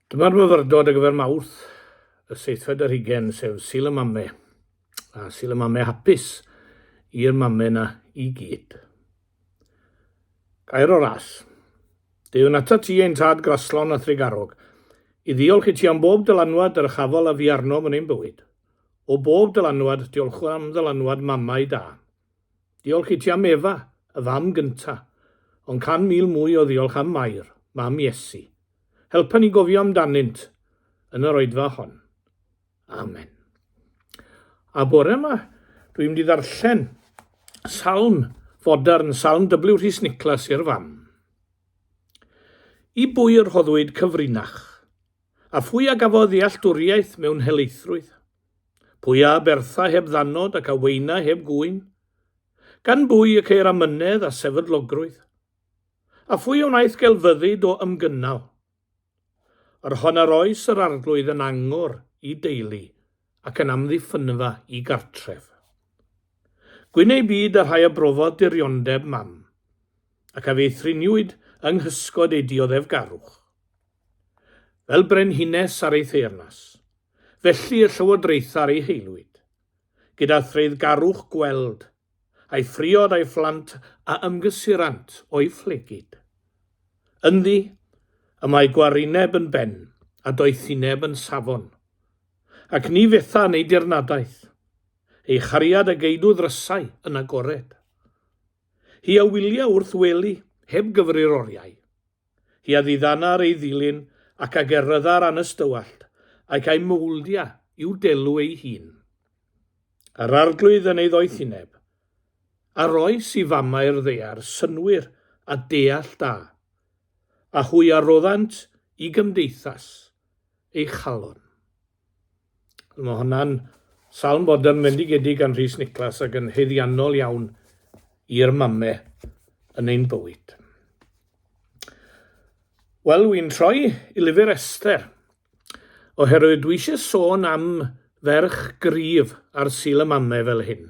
Dyma'r myfyrdod ar gyfer Mawrth, y seithfed ar hugen, sef Sul y Mame, a Sul y Mame hapus i'r mame na i gyd. Gair o ras. Deuwn ata ti ein tad graslon a thrigarog, i ddiolch i ti am bob dylanwad yr ychafol a fi arnom yn ein bywyd. O bob dylanwad, diolchwn am ddylanwad mamau da. Diolch i ti am Efa, y fam gynta, ond can mil mwy o ddiolch am Mair, mam Iesu. Helpa ni gofio amdanynt yn yr oedfa hon. Amen. A bore yma, dwi'n mynd i ddarllen salm fodern, salm W. Rhys Nicholas i'r fam. I bwy yr hoddwyd cyfrinach, a phwy a gafodd ddealltwriaeth mewn helaethrwydd? Pwy a bertha heb ddannod ac a weina heb gŵyn? Gan bwy y ceir amynedd a sefydlogrwydd? A phwy a wnaeth gelfyddyd o ymgynnal? Yr hon yr oes yr Arglwydd yn angor i deulu ac yn amddiffynfa i gartref. Gwyn ei byd y rhai a brofodd diriondeb mam, ac a feithriniwyd yng nghysgod ei dioddefgarwch. fel brenhines ar ei theyrnas, felly y llywodraethau ar ei haelwyd, gyda threiddgarwch gweld, a'i phriod a'i phlant a ymgysurant o'i phlegid. Ynddi, y mae gwarineb yn ben, a doethineb yn safon. Ac ni fetha yn ei dirnadaeth, ei chariad a geidw ddrysau yn agored. Hi a wylia wrth wely, heb gyfrir oriau. Hi a ddiddanar ei ddilyn ac a gerrydda'r anystywallt, ac a'i mouldia i'w delw ei hun. Yr Arglwydd yn ei ddoethineb, a roes i famau'r ddaear synnwyr a deall da, a hwy a roddant i gymdeithas ei chalon. Mae hwnna'n salm bod yn fendigedig gan Rhys Niclas ac yn heiddiannol iawn i'r mame yn ein bywyd. Wel, wy'n troi i lyfr Esther, oherwydd dwi eisiau sôn am ferch gryf ar sil y mame fel hyn.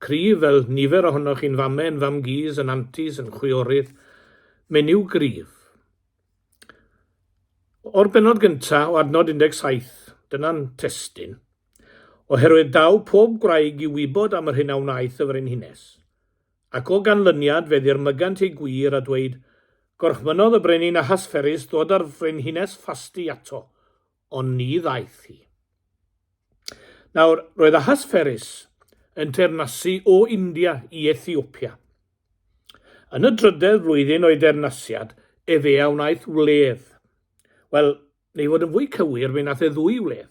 Cryf fel nifer ohonoch chi'n fame, yn fam-gus, yn antis, yn chwiorydd. Menyw gryf. O'r bennod gyntaf o adnod 17, dyna'n testun, oherwydd daw pob gwraig i wybod am yr hyn a wnaeth y frenhines. Ac o ganlyniad fe ddirmygant ei gwir a dweud, Gorchmynnodd y brenin Ahasferus ddod â'r frenhines Fasti ato, ond ni ddaeth hi. Nawr, roedd Ahasferus yn teyrnasu o India i Ethiopia. Yn y drydedd flwyddyn o'i deyrnasiad efe a wnaeth wledd. Wel, neu fod yn fwy cywir, fe nath e ddwy wledd.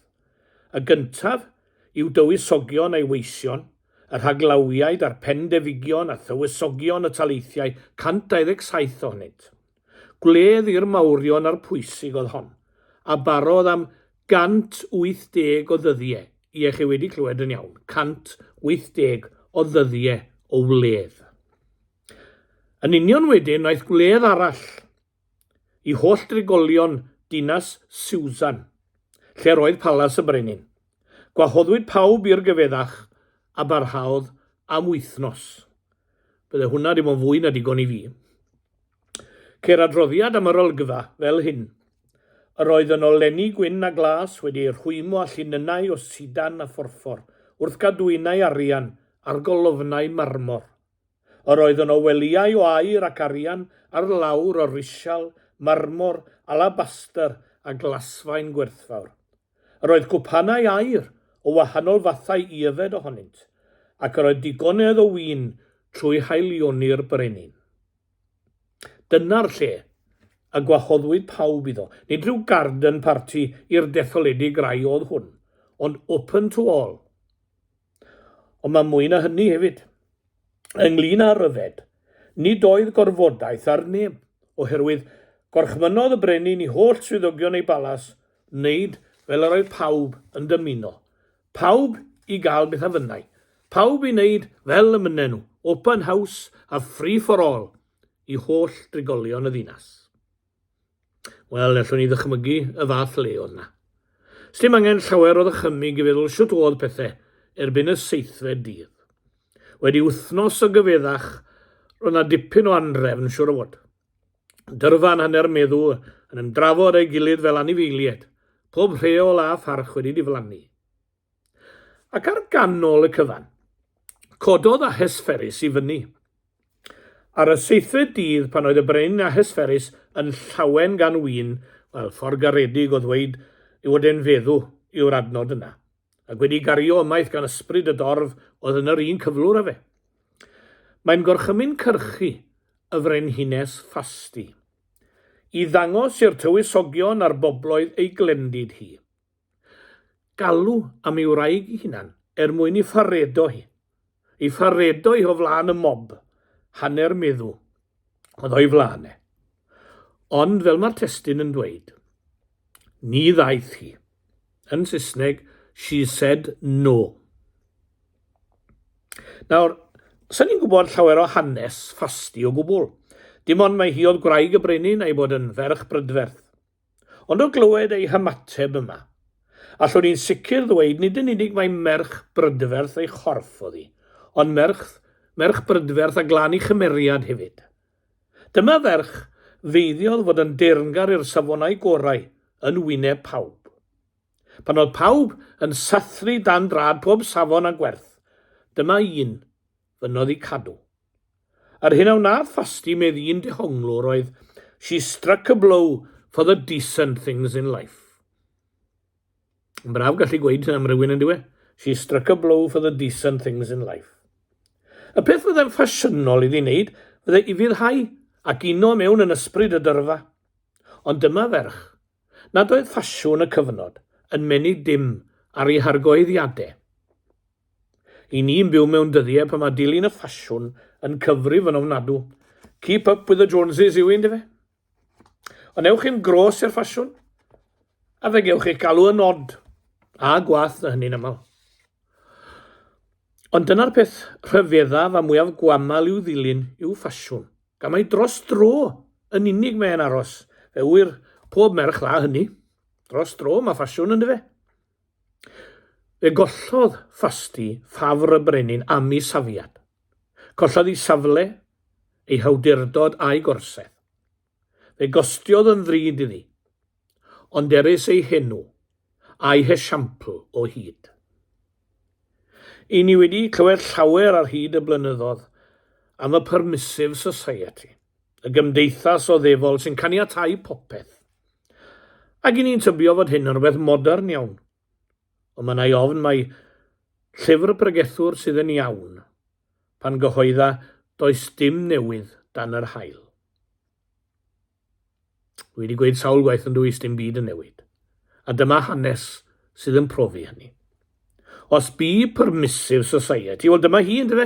Y gyntaf yw dywysogion a'i weision, y rhaglawiaid a'r pendefigion a thywysogion y taleithiau, 127 ohonynt. Gwledd i'r mawrion a'r pwysig oedd hon, a barodd am 180 o ddyddie, ie, chi wedi clywed yn iawn, 180 o ddyddie o wledd. Yn union wedyn wnaeth gwledd arall i holl drigolion dinas Siwsan, lle'r oedd palas y brenin. Gwahoddwyd pawb i'r gyfeddach a barhaodd am wythnos. Bydde hwnna dim ond fwy na digon i fi. Ceir adroddiad am yr olygfa fel hyn. Yr oedd yno lenni gwyn a glas wedi eu rhwymo â llinynnau o sidan a phorffor, wrth gadwynau arian ar golofnau marmor. Yr oedd yno welyau o aur ac arian ar lawr o risial, marmor, alabastr a glasfaen gwerthfawr. Yr oedd cwpanau aur o wahanol fathau i yfed ohonynt, ac yr oedd digonedd o win trwy haelioni'r brenin. Dyna'r lle y gwahoddwyd pawb iddo. Nid rhyw garden party i'r detholedig rai oedd hwn, ond open to all. Ond mae mwy na hynny hefyd. Ynglyn â ryfed, nid oedd gorfodaeth ar neb, oherwydd gorchmynnodd y brenin i holl swyddogion ei balas wneud fel yr oedd pawb yn dymuno. Pawb i gael beth a fynnai. Pawb i wneud fel y mynnen nhw, open house a free for all i holl drigolion y ddinas. Wel, allwn ni ddychmygu y fath le oedd na. Sdim angen llawer o ddychymyg i feddwl shwt oedd pethau erbyn y seithfed dydd. Wedi wythnos o gyfeddach, roedd na dipyn o anrefn siwr o fod. Dyrfa yn hanner meddw yn ymdrafod ei gilydd fel anifeiliaid, pob rheol a pharch wedi diflannu. Ac ar ganol y cyfan, cododd Ahesferus i fyny. Ar y seithfed dydd, pan oedd y brenin Ahesferus yn llawen gan wyn, wel, ffordd garedig o ddweud ei fod e'n feddw yw'r adnod yna, ac wedi gario ymaith gan ysbryd y dorf oedd yn yr un cyflwr â fe. Mae'n gorchymyn cyrchu y frenhines Fasti, i ddangos i'r tywysogion a'r bobloedd ei glendid hi. Galw am ei wraig ei hunan er mwyn ei pharedo hi. Ei pharedo hi o flaen y mob. Hanner meddw oedd o'i flaen e. Ond fel mae'r testyn yn dweud, ni ddaeth hi. Yn Saesneg, she said no. Nawr, sy'n ni'n gwybod llawer o hanes Fasti o gwbl. Dim ond mae hi oedd gwraig y brenin a'i bod yn ferch brydferth. Ond o glywed ei hymateb yma, allwn i'n sicr ddweud nid yn unig mai merch brydferth ei chorff oedd hi, ond merch, merch brydferth a glân ei chymeriad hefyd. Dyma ferch feiddiodd fod yn deyrngar i'r safonau gorau yn wyneb pawb. Pan oedd pawb yn sathru dan drad pob safon a gwerth, dyma un fy noddi cadw. Yr hyn a wnaeth Fasti medd un dehonglwr oedd She struck a blow for the decent things in life. Yn braf gallu gweud hyn am rywun yn diwe. She struck a blow for the decent things in life. Y peth fydde'n ffasiynol iddi wneud fydde i fyddhau ac uno mewn yn ysbryd y dyrfa. Ond dyma ferch, nad oedd ffasiwn y cyfnod yn menyg dim ar ei hargoeddiadau. Y ni'n byw mewn dyddie pan mae dilyn y ffasiwn yn cyfrif yn ofnadw. Keep up with the Joneses yw un dife? Ond ewch chi'n gros i'r ffasiwn, a fe gewch eich galw yn odd, a gwath na hynny'n aml. Ond dyna'r peth rhyfeddaf a mwyaf gwaml i'w ddilyn yw ffasiwn, gan mai dros dro yn unig mae'n aros, fe ŵyr pob merch dda hynny. Dros dro mae ffasiwn, yndyfe? Fe gollodd Fasti ffafr y brenin am ei safiad. Collodd ei safle, ei hawdurdod a'i gorsedd. Fe gostiodd yn ddrud iddi. Ond erys ei henw, a'i hesiampl, o hyd. I ni wedi clywed llawer ar hyd y blynyddoedd am y Permissive Society. y gymdeithas oddefol sy'n caniatáu popeth. Ac i ni'n tybio fod hyn yn rhywbeth modern iawn. Ond mae na'i ofn mai llyfr pregethwr sydd yn iawn. Pan gyhoedda, does dim newydd dan yr haul. Dwi wedi gweud sawl gwaith yn dwys dim byd yn newid. A dyma hanes sydd yn profi hynny. Os bu Permissive Society, wel dyma hi ynddo fe,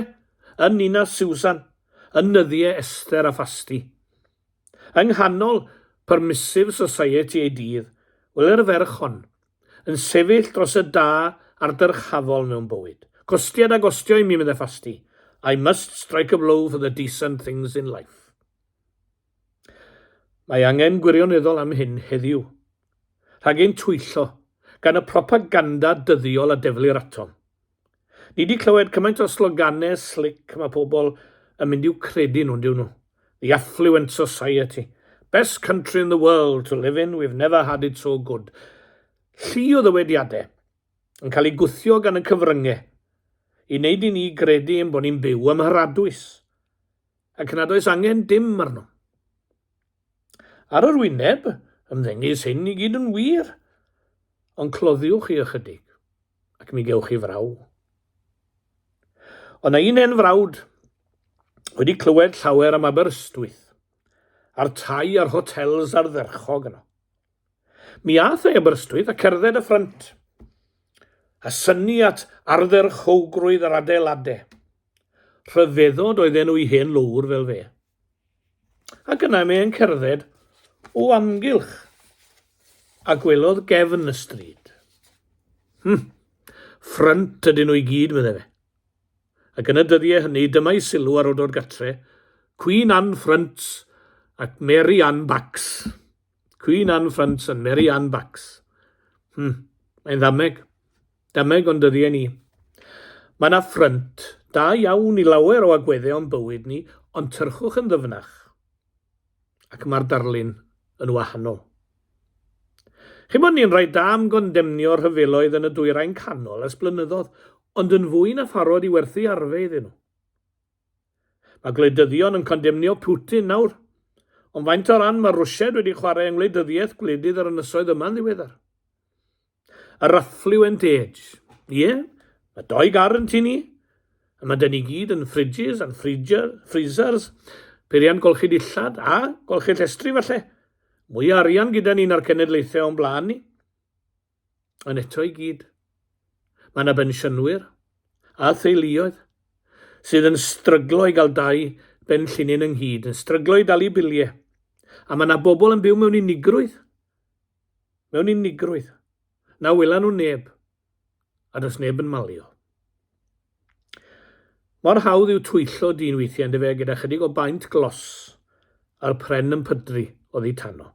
yn Nina Susan, yn nyddiau Esther a Fasti. Yng nghanol Permissive Society ei dydd, wel yr ferch hon, yn sefyll dros y da a'r dyrchafol mewn bywyd. Costiad a gostio i mi, meddai Fasti. I must strike a blow for the decent things in life. Mae angen gwirioneddol am hyn heddiw. Rhag ein twyllo gan y propaganda dyddiol a deflir atom. Ni wedi clywed cymaint o sloganau slic mae pobl yn mynd i'w credu nhw, dyw nhw. The affluent society. Best country in the world to live in, we've never had it so good. Llu o ddywediadau yn cael ei gwthio gan y cyfryngau i wneud i ni gredu ein bod ni'n byw ym Mharadwys. Ac nad oes angen dim arno. Ar yr wyneb, ymddengys hyn i gyd yn wir, ond cloddiwch chi ychydig, ac mi gewch chi fraw. Ond na un hen frawd wedi clywed llawer am Aberystwyth, a'r tai a'r hotels ardderchog yno. Mi ath ei Aberystwyth a cerdded y ffrynt, a synnu at ardderchowgrwydd yr adeilade. Rhyfeddod oedd enw'i hen lowr fel fe. Ac yna mae e'n cerdded o amgylch a gwelodd gefn y stryd. Hmm, ffrynt ydyn nhw i gyd, meddai fe. Ac yn y dyddiau hynny, dyma'i sylw ar ôl dod gatre, Cwîn Ann Ffrynt ac Mary Ann Bacs. Queen Anne Ffrynt yn Mary Anne Bacs. Hmm, mae'n ddameg. Dameg ond dyddie ni. Mae yna ffrynt da iawn i lawer o agwedde o'n bywyd ni, ond tyrchwch yn ddyfnach. Ac mae'r darlun yn wahanol. Chi'n bod ni'n rhaid da am gondemnio rhyfeloedd yn y dwyrain canol ers blynyddodd, ond yn fwy na pharod i werthu arfe iddyn nhw. Mae gwleidyddion yn condemnio Putin nawr, ond faint o ran mae Rwsiaid wedi chwarae yng ngwleidyddiaeth gwledydd yr ynysoedd yma'n ddiweddar? Yr affluent age. Ie, mae dou gar yn tŷ ni, a mae dyn ni gyd yn fridges and freezer, freezers, peiriant golchi dillad a golchi llestri falle. Mwy o arian gyda ni na'r cenedlaethau o'n blaen ni. Ond eto i gyd, mae yna bensiynwyr a theuluoedd sydd yn stryglo i gael dau ben llinyn ynghyd, yn stryglo i dalu biliau, a mae yna bobl yn byw mewn unigrwydd, mewn unigrwydd, na wela nhw neb, a does neb yn malio. Mor hawdd yw twyllo dyn weithiau yn dyfe gyda chydig o baent glos a'r pren yn pydru oddi tano.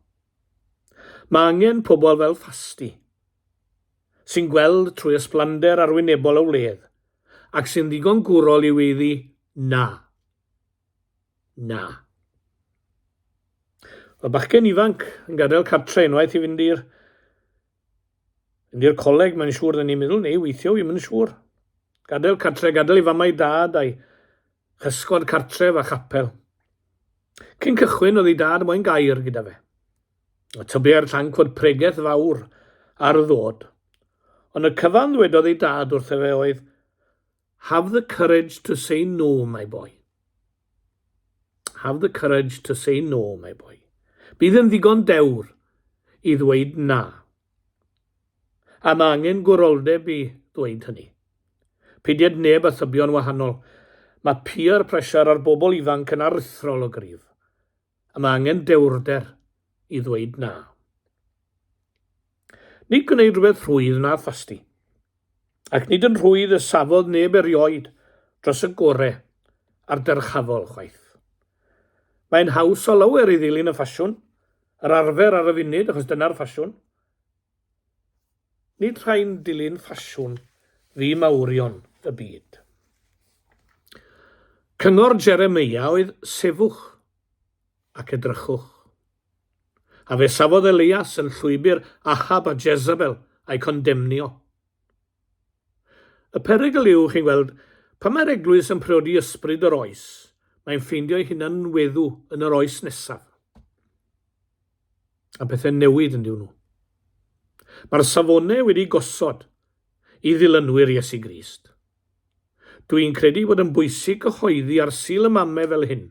Mae angen pobl fel Fasty, sy'n gweld trwy ysblander arwynebol y wledd, ac sy'n ddigon gwrol i weiddi 'Na! Na! Mae bachgen ifanc yn gadael cartre unwaith i fynd i'r fynd i'r coleg, mae'n siŵr, dyn ni'n meddwl, neu weithio, wi'm yn siŵr. Gadael cartre, gadael ei fam a'i dad a'i Hysgod cartref a chapel. Cyn cychwyn oedd ei dad moyn gair gyda fe. A tybiai'r llanc fod pregeth fawr ar y ddod. Ond y cyfan ddwedodd ei dad wrtho fe oedd, Have the courage to say no, my boy. Have the courage to say no, my boy. Bydd yn ddigon dewr i ddweud na, A mae angen gwroldeb i ddweud hynny. Peidied neb â thybio'n wahanol, mae peer pressure ar bobl ifanc yn aruthrol o gryf, a mae angen dewrder i ddweud na. Nid gwneud rhywbeth rhwydd na thasti. Ac nid yn rhwydd y safodd neb erioed dros y gore a'r dyrchafol chwaith. Mae'n haws o lawer i ddilyn y ffasiwn, Yr arfer ar y funud, achos dyna'r ffasiwn. Nid rhai'n dilyn ffasiwn fu mawrion y byd. Cyngor Jeremia oedd sefwch ac edrychwch. A fe safodd Elias yn llwybr Ahab a Jezebel a'i condemnio. Y perygl yw, chi'n gweld, pan mae'r Eglwys yn priodi ysbryd yr oes, mae'n ffeindio'i hunan yn weddw yn yr oes nesaf. A pethau'n newid yn diwn nhw. Mae'r safonau wedi gosod i ddilynwyr Iesu Grist. Dwi'n credu bod yn bwysig cyhoeddi ar Sul y Mame fel hyn,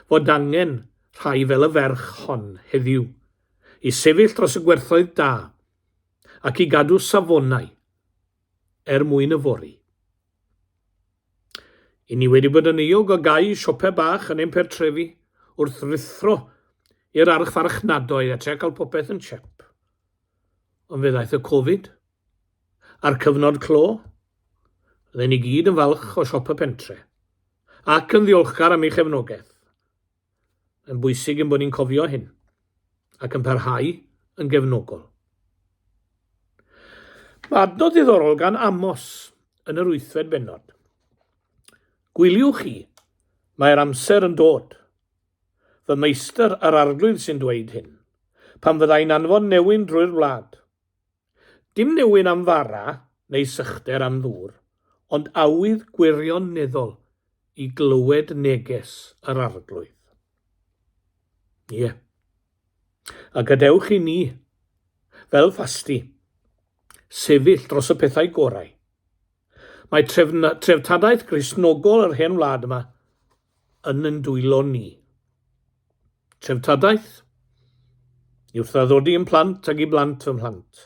fod angen rhai fel y ferch hon heddiw, i sefyll dros y gwerthoedd da ac i gadw safonau er mwyn yfory. I ni wedi bod yn euog o gau siopau bach yn ein pertrefi wrth ruthro i'r archfarchnadoedd a trio cael popeth yn chep. Ond fe ddaeth y Covid a'r cyfnod clo. Rydyn ni gyd yn falch o siop y pentre ac yn ddiolchgar am ei chefnogaeth. Mae'n bwysig ein bod ni'n cofio hyn ac yn parhau yn gefnogol. Mae adnod ddiddorol gan Amos yn yr wythfed benod. Gwyliwch chi, mae'r amser yn dod. Fy meistr yr arglwydd sy'n dweud hyn. Pan fyddai'n anfon newyn drwy'r wlad, Dim newyn am fara neu sychder am ddŵr, ond awydd gwirioneddol i glywed neges yr Arglwydd. Ie. A gadewch i ni, fel ffasti, sefyll dros y pethau gorau. Mae trefna, treftadaeth Gristnogol yr hen wlad yma yn ein dwylo ni. Treftadaeth, i wrthdadodi yn plant ag i blant fy mhlant,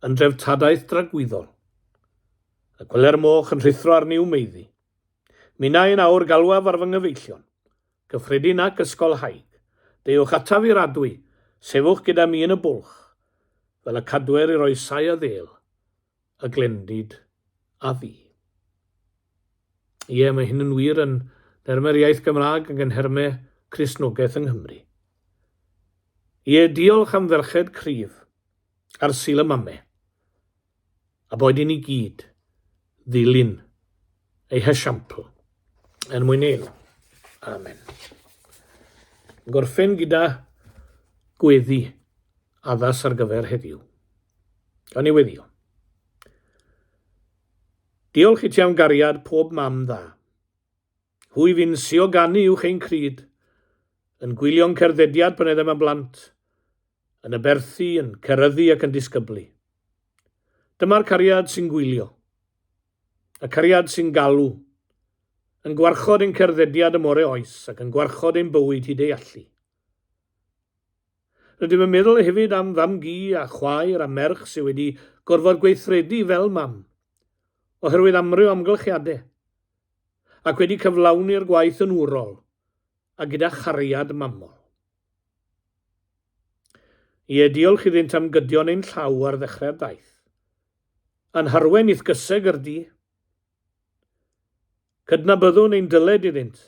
yn dreftadaeth dragwyddol. Y gweler moch yn rhuthro ar niw meiddi. Minnau yn awr galwaf ar fy nghyfeillion, gyffredin ac ysgolhaig, deuwch ataf i'r adwy, sefwch gyda mi yn y bwlch, fel y cadwer i'r oesau a ddêl. a glendid a fi. Ie, mae hyn yn wir yn nermau'r iaith Gymraeg ac yn herme Cristnogaeth yng Nghymru. Ie, diolch am ferched cryf ar sil y mame, a boed i ni gyd ddilyn ei hesiampl er mwyn ei elw. Amen. Gorffen gyda gweddi addas ar gyfer heddiw. Yn niweddiol. Diolch i ti am gariad pob mam dda. Hwy fi'n sio ganu uwch ein cryd, yn gwylio'n cerddediad pan edem yn blant, yn y berthi, yn ceryddu ac yn disgyblu. Dyma'r cariad sy'n gwylio. Y cariad sy'n galw. Yn gwarchod ein cerddediad y more oes ac yn gwarchod ein bywyd hyd ei allu. Rydym yn meddwl hefyd am fam-gu a chwaer a merch sydd wedi gorfod gweithredu fel mam, oherwydd amryw amgylchiadau, ac wedi cyflawni'r gwaith yn wrol a gyda chariad mamol. Ie, diolch iddynt am gydio yn ein llaw ar ddechrau'r daith. A'n harwain i'th gyseg yr du. Cydnabyddwn ein dyled iddynt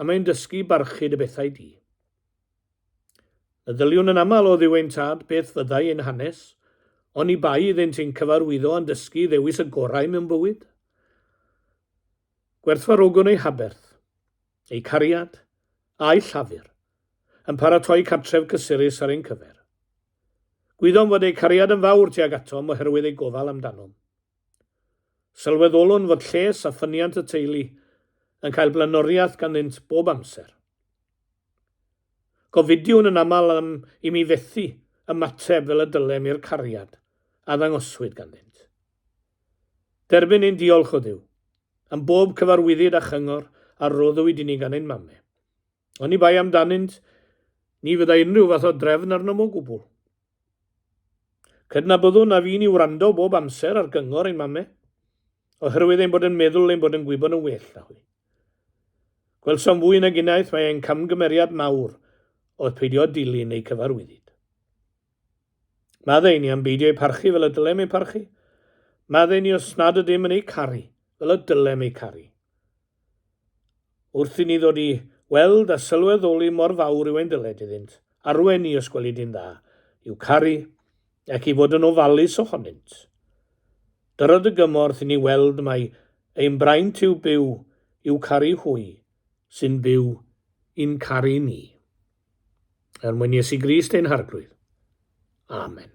am ein dysgu barchud y bethau di. Meddyliwn yn aml o dduw ein Tad beth fyddai ein hanes, oni bai iddynt ein cyfarwyddo a'n dysgu i ddewis y gorau mewn bywyd. Gwerthfarogwn eu haberth, eu cariad, a'u llafur, yn paratoi cartref cysurus ar ein cyfer. Gwyddom fod eu cariad yn fawr tuag atom oherwydd eu gofal amdanom. Sylweddolwn fod lles a ffyniant y teulu yn cael blaenoriaeth ganddynt bob amser. Gofidiwn yn aml am i mi fethu ymateb fel y dylem i'r cariad a ddangoswyd ganddynt. Derbyn ein diolch, o Dduw, am bob cyfarwyddyd a chyngor a roddwyd i ni gan ein mame. Oni bai amdanynt, ni fyddai unrhyw fath o drefn arnom o gwbl. Cydnabyddwn na fy'n i wrando bob amser ar gyngor ein mame, oherwydd ein bod yn meddwl ein bod yn gwybod yn well na hwy. Gwelsom fwy nag unwaith mae ein camgymeriad mawr oedd peidio dilyn eu cyfarwyddyd. Maddau ni am beidio eu parchu fel y dylem eu parchu. Maddau ni os nad ydym yn eu caru fel y dylem eu caru. Wrth i ni ddod i weld a sylweddoli mor fawr yw ein dyled iddynt, arwain ni os gwelid yn dda, i'w caru, ac i fod yn ofalus ohonynt. Dyrodd y gymorth i ni weld mai ein braint yw byw i'w caru hwy sy'n byw i'n caru ni. Er mwyn Iesu Grist ein Harglwydd. Amen.